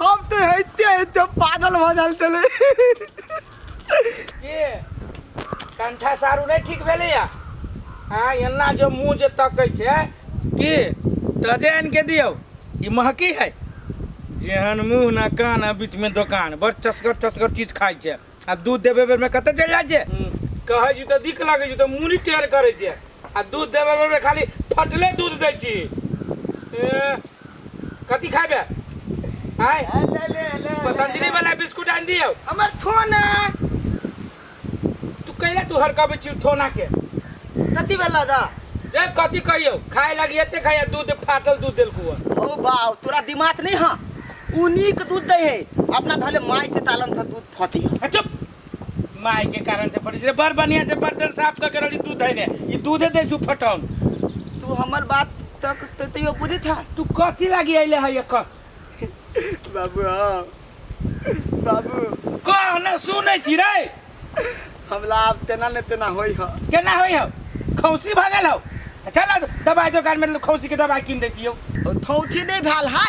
हम तो हेते हेते पागल भ जाल तले के कंठा सारू नहीं ठीक भेले या हाँ एना जो मुंह जे तकै छै की तजे आनि के दियौ ई महकी है जेहन मुंह ना कान आ बीच में दोकान बड़ चसगर चसगर चीज खाइ छै आ दूध देबे बेर में कते चल जाए छे कहे छी तो दिक लगे छी तो मुनी टेर करे छे आ दूध देबे बेर में खाली फटले दूध दे छी ए, कथी खाबे आय ले ले ले पतंजलि वाला बिस्कुट आन दियो हमर थोन है तू कैला तू हरकाबे छी थोना के कथी भेला दा रे कथी कहियो खाए लगी एते खाए दूध फाटल दूध देलकू ओ बाव तोरा दिमाग नहीं हाँ उ नीक दूध दै है अपना धले माय के तालन से दूध फटी है आ, चुप माय के कारण से फटी छै बड़ बढ़िया से बर्तन साफ क के रहली दूध धैने ई दूधे दै छु फटौन तू हमर बात तक ते तैयो बुझी था तू कथी लागी अइले है ये कह बाबू हाँ बाबू कह ना सुनै छी रे हमला आब तेना ने तेना होई है केना होइ हौ खौसी भगल हौ चल दबाइ दोकानमे खौसीके दबाइ किन दै छियौ थौथी नहीं भेल है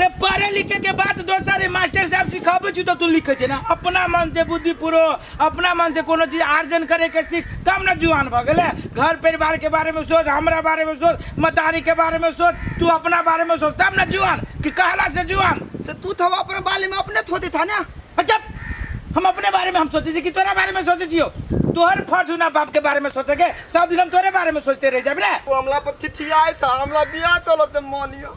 रे पढ़े लिखे के बात दोसर रे मास्टर साहब सिखाबै छी तऽ तू लिखै छै ना अपना मन से बुद्धि पुरो अपना मन से कोनो चीज आर्जन करे के सीख तब ना जुआन भऽ गेलै घर परिवार के बारे में सोच हमरा बारे में सोच मतारी के बारे में सोच तू अपना बारे में सोच तब ना जुआन कि कहला से जुआन तो तू तो अपने बाले में अपने थोते था ना अच्छा हम अपने बारे में हम सोचे छी कि तोरा बारे में सोचे छियो तोहर फर्ज ना बाप के बारे में सोचे के सब दिन हम तोरे बारे में सोचते रह जाब रे तू हमला पर चिट्ठी आए था हमला बिया तो लते मानियो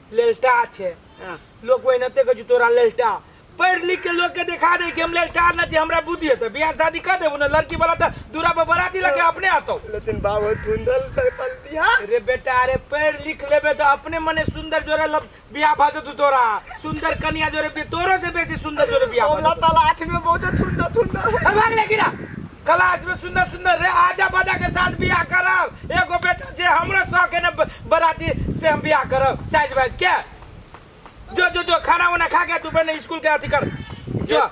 लेलटा छै हाँ। लोग वही नते कह तोरा लेलटा पढ़ लिख के लोग के दिखा दे कि हम लेलटा ना छी हमरा बुद्धि है तो बियाह शादी कर देबो ना लड़की वाला तो दूरा पर बराती लगे अपने आतो लेकिन बाबू धुंधल से पल दिया रे बेटा अरे पढ़ लिख लेबे तो अपने मने सुंदर जोरे लब बियाह भा देतू तोरा सुंदर कन्या जोरे बि- तोरो से बेसी सुंदर जोरे बियाह भा अल्लाह देतू ताला आँख में बहुत सुंदर सुंदर है। ए, भाग ले गिरा क्लास में सुंदर सुंदर रे आजा बाजा के साथ बियाह करब एगो बेटा जे हमरो शौक है ना ब- बराती से हम बियाह करब साइज वाइज के जो जो जो खाना वाना खा के तू बने स्कूल के अथी कर जो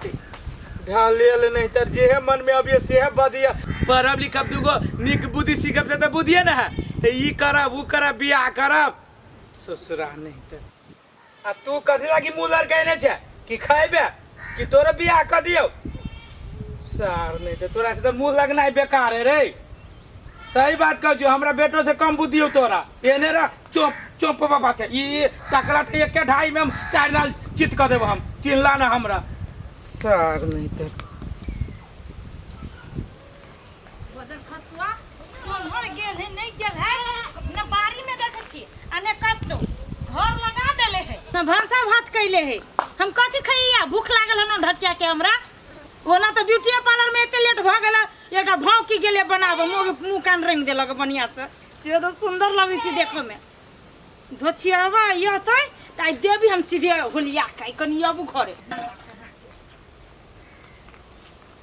ढाल ले ले नहीं तर जे है मन में अभी से है बदिया पढ़ब लिखब दूगो निक बुद्धि सीखब से तो बुद्धिए ना है तो ई करब ऊ करब बियाह करब ससुरा नहीं तर आ तू कथी लागी मुँह लड़कैने छै कि खैबे कि तोरे बियाह कऽ दियौ सार नहि तऽ तोरा से तऽ मुँह लगनाइ बेकार है रे सही बात कहै छियौ हमरा बेटो से कम बुद्धि हौ तोरा एने रह चोप चोप बाबा छै ई तकरा तऽ एके ढाई में हम चारि लाल चित कऽ देबो हम चिन्हला ना हमरा सार नहि तऽ गोदर फसुआ तोहर गेल है नहीं गेल है अपना बाड़ी में देखे छी अने कतो घर लगा देले है ना भाषा भात कैले है हम कथी खइया भूख लागल हन ढकिया के हमरा ओना तो ब्यूटी पार्लर में एते लेट भ गेला एकटा भाव की गेले बनाबो मुंह मुंह कान रंग देलक बढ़िया से से तो सुंदर लगे छी देखे में धोछियावा यह तै ताई देवी हम सीधे होलिया काई कनी अब घरे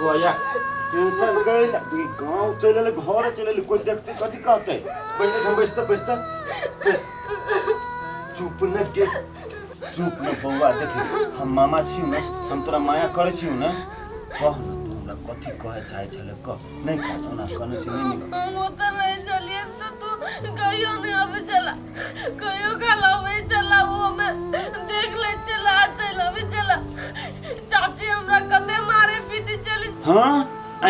भैया टेंशन गई गाँव चल घर चल कोई देखते कथी कहते पहले हम बैसते बैसते बैस चुप न के चुप न बौआ देखे हम मामा छी न हम तोरा माया करे छी न कह न तू हमरा कथी कहे चाहे छले कह नहीं खा तो ना खाने से नहीं मिला हम उतर रहे चलिए तो तू कहियो नहीं अबे चला कहियो खाला अबे चला वो हमें देख ले चला चला अबे चला चाची हमरा कते मारे पीटे चली हाँ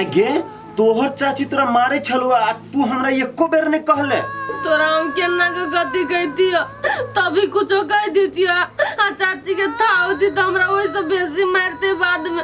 आगे तोहर चाची तोरा मारे छलुआ आ तू हमरा एको बेर नहीं कहले तोरा हम केना के गति कहती हो तभी कुछो कह देती हो आ चाची के था होती तो हमरा वैसे बेसी मारते बाद में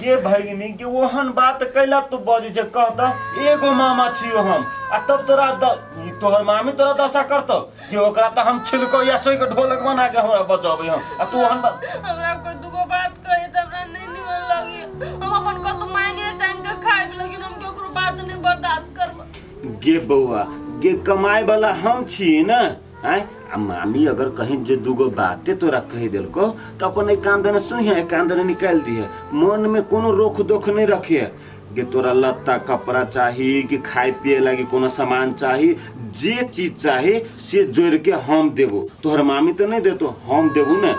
गे भगिनी गे ओहन बात कैला तू बजै छै कह त एगो मामा छियो हम आ तब तोरा द ई तोहर मामी तोरा दशा करतौ कि ओकरा त हम छिलको या सोइ के ढोलक बना के हमरा बचबै हम आ तू ओहन बात हमरा कोई दुगो बात कहे त हमरा नहीं निमन लगी हम अपन कत मांगे चाहे के खाए भी लेकिन हम केकरो बात नहीं बर्दाश्त करब गे बौआ गे कमाए वाला हम छी ना आय आ मामी अगर कहीं जे दूगो बाते तोरा कह दिल को तो अपन एक कान देने सुनिए एक कान देने निकाल दिए मन में कोनो रोक दोख नहीं रखिए कि तोरा लत्ता कपड़ा चाहिए कि खाए पिए लागी कोनो सामान चाहिए जे चीज चाहिए से जोड़ के हम देबो तोहर मामी तो नहीं देतो हम देबो ने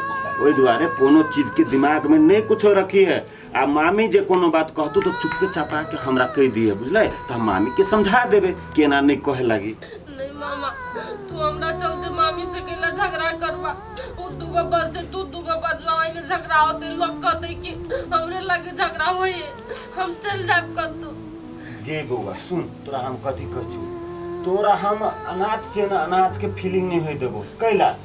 ओहि दुआरे कोनो चीज के दिमाग में नहीं कुछो रखी है आ मामी जे कोनो बात कहतू तो चुपके चापा के हमरा कह दिए बुझले तो हम मामी के समझा देबे केना नहीं कहे लगी नहीं मामा तू हमरा चलते मामी से केला झगड़ा करबा उ दुगो बजते तू दुगो बजवा ओइ में झगड़ा होते लोग कहते कि हमरे लगे झगड़ा होई हम चल जाब कतू गे बौआ सुन तोरा हम कथी कहू तोरा हम अनाथ छे ना अनाथ के फीलिंग नहीं होई देबो कैला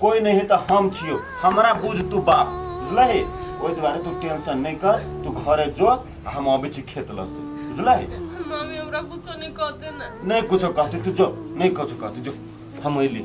कोई नहीं तो हम छियो हमरा बुझ तू बाप बुझलही ओहि दुआरे तू टेंशन नहीं कर तू घरे जो आ हम अबै छी खेत लऽ से बुझलही मम्मी हमरा कुछो नहीं कहते ना नहीं कुछो कहती तू जो नहीं कुछो कहती जो हम अइली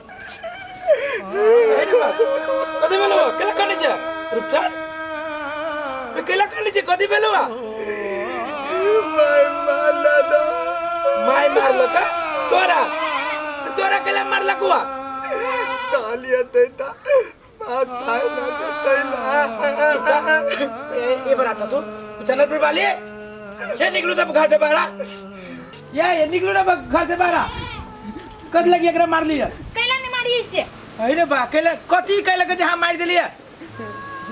कथी भेलो केला काटे छै रुपचान बे केला काटे छै कथी भेलो माय मारला दो माय मारला का तोरा तोरा केला मारला कुआ तालिया देता ए बरा तू चनर पे वाले ये निकलू तब घर से बाहर ये ये निकलू ना घर से बाहर कद लगी एकरा मार लिया कैला ने मारी इसे अरे बा कैला कथी कैला के जहां मार देलिए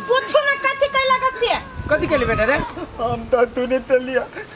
पूछो ना कथी कैला कथी कथी कैले बेटा रे हम तो तूने तलिया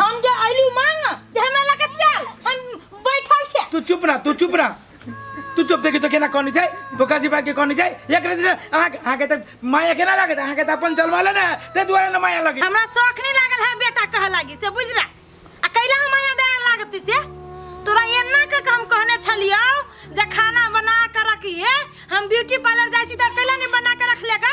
हम जे अइलू मांग जे हमरा लगे चल हम बैठल छे तू चुप रह तू चुप रह तू चुप देखी तो केना कहनी छै बोका जी भाई के कहनी छै एक दिन अहाँ अहाँ के तक माया केना लागत अहाँ के त अपन जलवाले ने ते दुआरे ने माया लगे हमरा शौक नहीं लागल है बेटा कह लागी से बुझ रहा आ कैला हम आया दे लागती से तोरा एना के हम कहने छलियो जे खाना बना के रखिए हम ब्यूटी पार्लर जाई छी त कैला नहीं बना के रख लेगा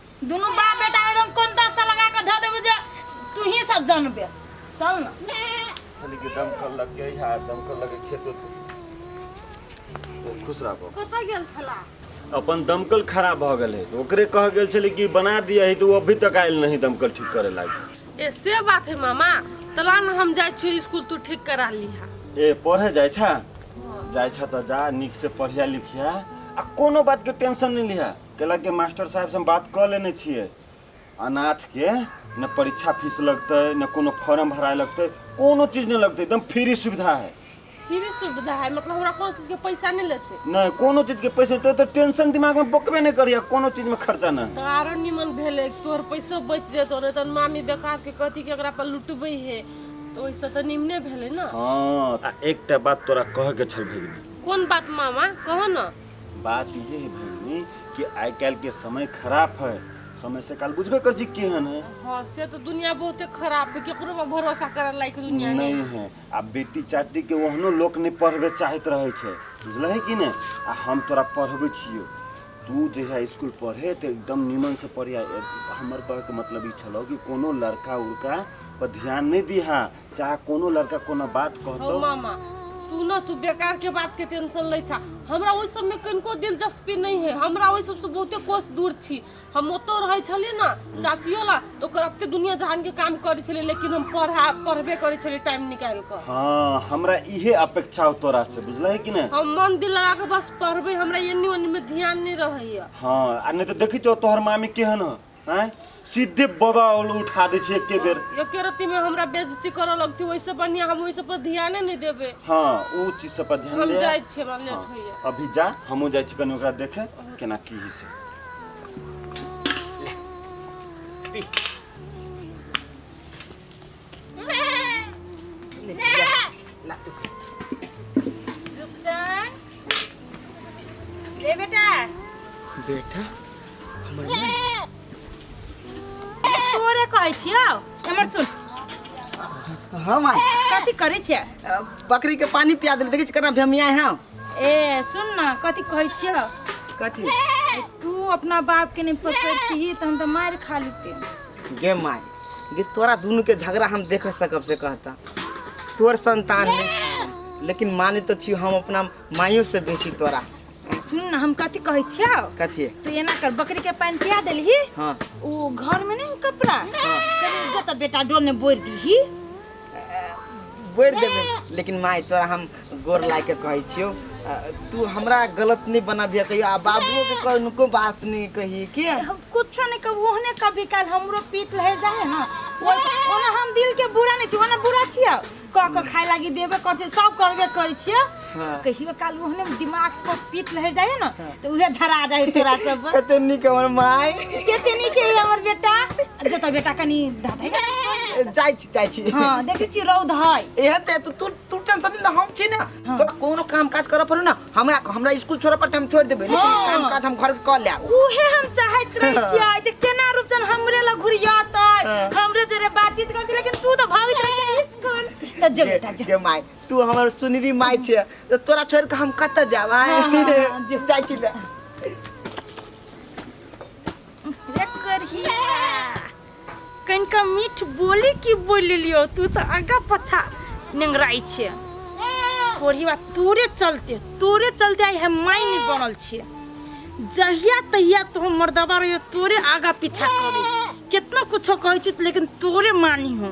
दुनू बाप बेटा एकदम कोन दस लगा के धऽ देबू जे तू ही सब जानबे चल ना खाली के दम कर लग के यहाँ दम कर लग के खेत में खुश रहो कतऽ गेल छला अपन दमकल खराब भऽ गेल है ओकरे कह गेल छलै कि बना दिया है तो वो अभी तक आयल नहीं दमकल ठीक करे लागी ए से बात है मामा तला न हम जाइ छियै स्कूल तू ठीक करा लिहा ए पढ़े जाइ छा जाइ छा तऽ जा नीक से पढ़िया लिखिया आ कोनो बात के टेंशन नहीं लिहा कैलक के मास्टर साहब से हम बात कऽ लेने छियै अनाथ के न परीक्षा फीस लगतै न कोनो फॉर्म भराए लगतै कोनो चीज नहि लगतै एकदम फ्री सुविधा है फ्री सुविधा है मतलब हमरा कोनो चीज के पैसा नहीं लेते नहि कोनो चीज के पैसे तो, तो टेंशन दिमाग में बकबे नहि करिया कोनो चीज में खर्चा नहि तो आरो निमन भेले तोहर पैसो बच जेतो नहीं तो मामी बेकार के कहती कि एकरा पर लुटबे है तो ओइसे तो निमने भेले ना हाँ आ एकटा बात तोरा कहे के छल भगिनी कोन बात मामा कहो ना बात ये है बहनी कि आइ काल्हि के समय खराब है समय से काल बुझबे कर जी केहन है हाँ से तो दुनिया बहुते खराब है केकरो पर भरोसा करे लायक दुनिया नहीं नहीं है आ बेटी चाटी के ओहनो लोक नहीं पढ़बे चाहत रहे छे बुझल है कि नहीं आ हम तोरा पढ़बे छियो तू जहिया स्कूल पढ़े तो एकदम नीमन से पढ़िया हमर कहे के मतलब ई छलो कि कोनो लड़का उड़का पर ध्यान नहीं दिहा चाहे कोनो लड़का कोनो बात हौ कहतो मामा तू ना तू बेकार के बात के टेंशन लै छा हमरा ओहि सब में कनिको दिलचस्पी नहीं है हमरा ओहि सब से बहुते कोस दूर छी हम ओतो रहै छलिए ना चाचियो ला तो ओकर अते दुनिया जहान के काम करै छलिए लेकिन हम पढ़ा पढ़बे करै छलिए टाइम निकाल कर हाँ हमरा इहे अपेक्षा हो तोरा से बुझल है कि नहीं हम मन दिल लगा के बस पढ़बे हमरा एनी ओनी में ध्यान नहीं रहैया हाँ आ नहीं तो देखी छो तोहर मामी केहन है हैं सीधे बाबा ओल उठा दे छे एके बेर एके रत्ती में हमरा बेइज्जती करऽ लगती ओइसे बढ़िया हम ओइसे पर ध्याने नहीं देबे हाँ ऊ चीज सब पर ध्यान हम दे जाय छी हमरा लेट होइए अभी जा हमहूँ जाइ छी कनि ओकरा देखे केना की होइ छै पी बेटा हमर तोरे कहै छियौ हमर सुन हां माय कथी करै छियै बकरी के पानी पिया देले देखै छी केना भेमिया है ए सुन ना कथी कहै छियौ कथी तू अपना बाप के नहीं पकड़ती तो हम तो मार खा लेते गे माय गे तोरा दुनू के झगड़ा हम देख सकब से कहता तोर संतान नहीं छी, लेकिन माने तो छी हम अपना माइयो से बेसी तोरा सुन न हम कथी कहै छियौ कथी तू एना कर बकरी के पानि पिया देलही हाँ ओ घर में नहीं कपड़ा कनी जतऽ बेटा डोल में बोरि दीही बोरि देबै लेकिन माय तोरा हम गोर लाग कऽ कहै छियौ अ, तू हमरा गलत नहि बनाबिह कहियो आ बाबुओ के कोनो बात नहि कही के हम कुछो नहीं कहब ओहने कभी काल हमरो पीत लहर जाए है ना ओहि- ओना हम दिल के बुरा नहीं छी ओना बुरा छियै क क खाए लागी देबे कर छै सब करबे करै छियै हाँ। कहियो काल ओहने में दिमाग पर पीत लहर जाए ना तो उहे झरा जाए तोरा सब कते निक हमर माय केते नीक है हमर बेटा जो तो बेटा कनी दादा जाइ छी जाइ छी हां देखै छी रौद है एहे ते तू तू तू टेंशन ले हम छी ना हाँ। तोरा कोनो काम काज करऽ पड़ो ना हमरा हमरा स्कूल छोड़ऽ पड़ते हम छोड़ देबै लेकिन हाँ। काम काज हम घर के कऽ लेब उहे हम चाहत रहे हाँ। छियै जे केना रूपचन हमरे लग घुरियातै हाँ। हमरे जरे बातचीत करतै लेकिन तू तो भागत रहे स्कूल तो जो बेटा जो गे माय तू हमर सुनरी माय छे तो तोरा छोड़ के हम कत जाब हाँ, हाँ, हाँ, जो। जाय छी ले रे करहिया कनिका मीठ बोली की बोलि लियो तू तऽ आगा पछा नेंगराइ छियै कोढ़िया तोरे चलते तोरे चलते आइ हम मायनी बनल छियै जहिया तहिया तो हम मर्दबा रहियो तोरे आगा पीछा करी कितना कुछो कहै छी लेकिन तोरे मानी हो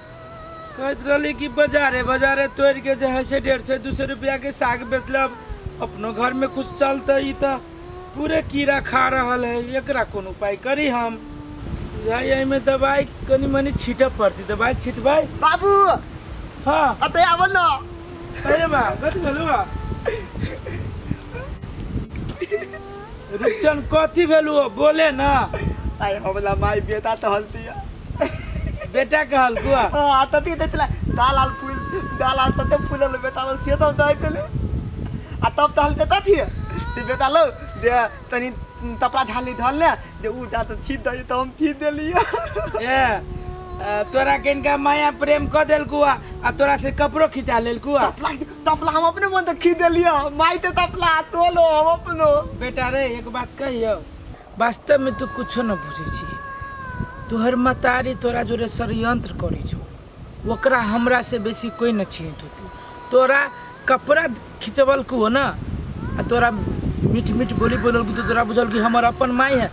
कहैत रहली कि बाजारे बाजारे तोड़ के जे है से डेढ़ सौ दू सौ रुपया के साग बेचलब अपनो घर में कुछ चलते ई तो पूरे कीड़ा खा रहा है एकरा कौन उपाय करी हम बुझाई एहिमे दवाई कनी मनी छीटऽ पड़ती दवाई छिटबै बाबू हाँ अतः आबो न अरे बा कथी भेलू बा रुपचन कथी भेलू बोले ना आय हमला माय बेटा टहलती है बेटा कहल कुआ आ तती दै छलै दाल आल फूल दाल आल तते फूलल बेटा लग से तब दै देले आ तब तहल देता थिए जे बेटा लो जे तनी तपड़ा झाली धल ले जे उ जा त छीट दई त हम छीट देलिए ए आ, तोरा किनका माया प्रेम क देल कुआ आ तोरा से कपड़ो खिंचा लेल कुआ तपला तपला हम अपने मन त खीच देलिए माई ते तपला तोलो हम अपनो बेटा रे एक बात कहियो वास्तव में तू कुछ न बुझे छी तोहर मतारी तोरा जोरे षडयंत्र करे छो ओकरा हमरा से बेसी कोई न छीट होती तोरा कपड़ा खिंचवल को हो ना आ तोरा मीठ मीठ बोली बोलल को तो तोरा बुझल कि हमर अपन माई है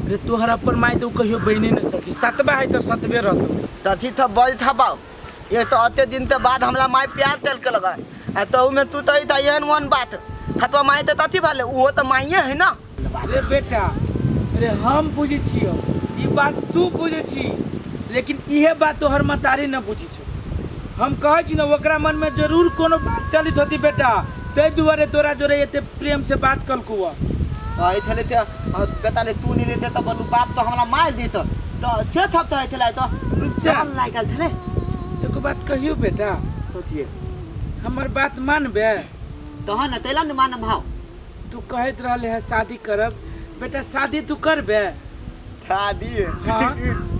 रे तोहर अपन माई तो कहियो बने न सकी सतबा है तो सतबे रहतो तथी था बल था बाऊ ये तो अते दिन ते बाद हमला माई प्यार तेल के लगा आ तहु में तू तही था एहन वन बात खतवा माई ते तथी भाले वो तो माइये है ना रे बेटा रे हम बुझी छियो ई बात तू बुझे छी लेकिन इहे बात तोहर मतारी न बुझी छो हम कहै छी न ओकरा मन में जरूर कोनो बात चलित होती बेटा तै दुआरे तोरा जोरे एते प्रेम से बात कलकू हुआ आई थले ते आ, बेटा ले तू नहीं ले देता बलू बाप तो हमरा मार दी तो तो छे थप तो आई थले तो रुक जा जान लाइक आल थले एगो बात कहियो बेटा तो थिए हमर बात मानबे तहन न तैला न मान भाव तू कहैत रहले है शादी करब बेटा शादी तू करबे शादी हाँ।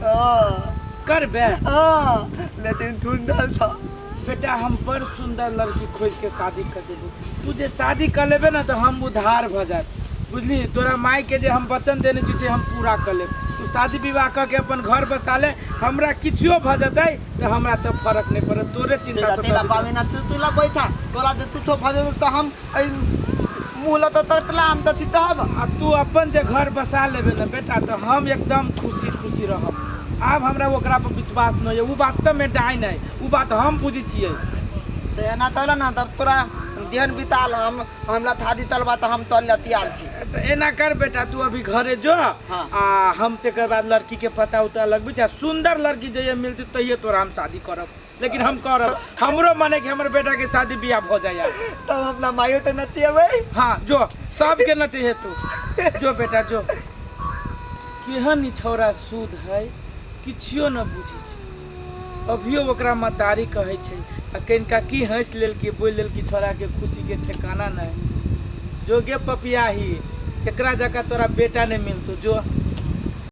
हाँ, करबे हाँ, लेकिन सुंदर था बेटा हम बड़ सुंदर लड़की खोज के शादी कर देबू तू जे शादी कर लेबे ना तो हम उधार भ जाए बुझली तोरा माई के जे हम वचन देने छी से हम पूरा कर लेब तू शादी विवाह कऽ के अपन घर बसा ले हमरा किछो भ जेतै तो हमरा तो फर्क नहीं पड़त तोरे चिंता तेरा से तेरा बाबे ना तू तू ला बैठा तोरा से कुछो भजन तो हम अइ मुँह लऽ तऽ ततला हम तऽ छी तब आ तू अपन जे घर बसा लेबे ना बेटा तो हम एकदम खुशी खुशी रहब आब हमरा ओकरा पर विश्वास नहीं है वो वास्तव में डाइन है वो बात हम बुझी छियै तऽ एना तल ना तब तोरा देहन बिताल हम हमरा था दी तलबा तऽ हम तल लतियाल छी तो एना कर बेटा तू अभी घरे जो हाँ। आ हम तेकर बाद लड़की के पता उता लगबी जा सुंदर लड़की जहिया मिलती तहिया तोरा हम शादी करब लेकिन हम करब हमरो मने कि हमर बेटा के शादी बियाह हो जाए यार तब हम अपना माइयो तो नती अबे हाँ जो सबके न चाहिए तू जो बेटा जो केहन ई छौरा सूद है किछियो न बुझी छै अभियो ओकरा मतारी कहै छै आ कनिका की हँसि लेल कि बोलि लेल कि छौरा के खुशी के ठेकाना नहि जो गे पपियाही एकरा जकाँ तोरा बेटा नहि मिलतौ जो